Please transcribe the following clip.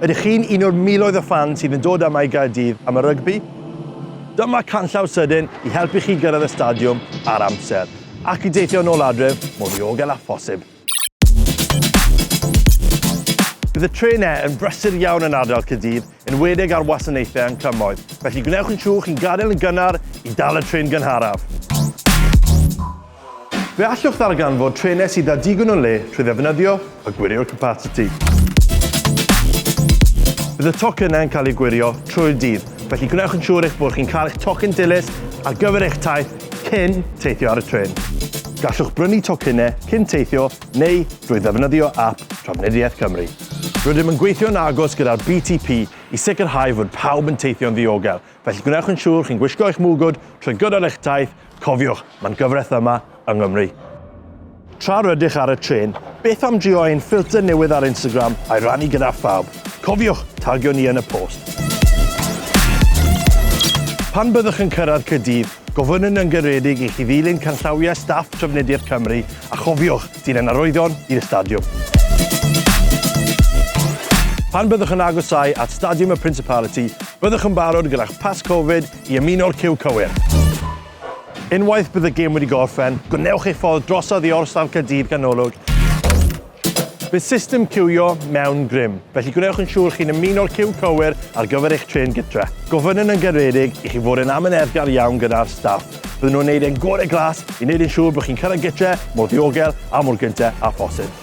Ydych chi'n un o'r miloedd o ffans sydd yn dod yma i Gaerdydd am y rygbi? Dyma canllaw sydyn i helpu chi gyrraedd y stadiwm ar amser ac i deithio yn ôl adref mor ddiogel â phosib. Bydd y trenau yn brysur iawn yn ardal Caerdydd, yn enwedig ar wasanaethau yn cymoedd, felly gwnewch yn siŵr chi'n gadael yn gynnar i dal y trên gynharaf. Fe allwch ddarganfod trenau sydd â digon o le trwy ddefnyddio y gwirio capasiti. Bydd y tocynnau yn cael eu gwirio trwy'r dydd, felly gwnewch yn siŵr eich bod chi'n cael eich tocyn dilys ar gyfer eich taith cyn teithio ar y trên. Gallwch brynu tocynnau cyn teithio neu drwy ddefnyddio ap Trafnidiaeth Cymru. Rydym yn gweithio'n agos gyda'r BTP i sicrhau fod pawb yn teithio'n ddiogel, Felly gwnewch yn siŵr chi'n gwisgo eich mwgwd trwy gydol eich taith, cofiwch, mae'n gyfraith yma yng Nghymru. Tra rydych ar y trên, beth am drio ein ffilter newydd ar Instagram a'i rannu gyda phawb? Cofiwch, tagio ni yn y post! Pan byddwch yn cyrraedd Caerdydd, gofynnwn yn garedig i chi ddilyn canllawiau staff Trafnidiaeth Cymru A chofiwch, dilyn arwyddion i'r stadiwm. Pan byddwch yn agosáu at Stadiwm y Principality, byddwch yn barod gyda'ch pas Covid i ymuno'r ciw cywir. Unwaith bydd y gêm wedi gorffen, gwnewch eich ffordd drosodd i Orsaf Caerdydd Ganolog. Bydd system ciwio mewn grym, felly gwnewch yn siŵr chi'n ymuno'r ciw cywir ar gyfer eich trên gytre. Gofynnwn yn garedig i chi fod yn amyneddgar iawn gyda'r staff. Bydden nhw'n neud ein gore glas i neud yn siŵr bod chi'n cyrraedd gytre mor ddiogel a mor gynte â phosib.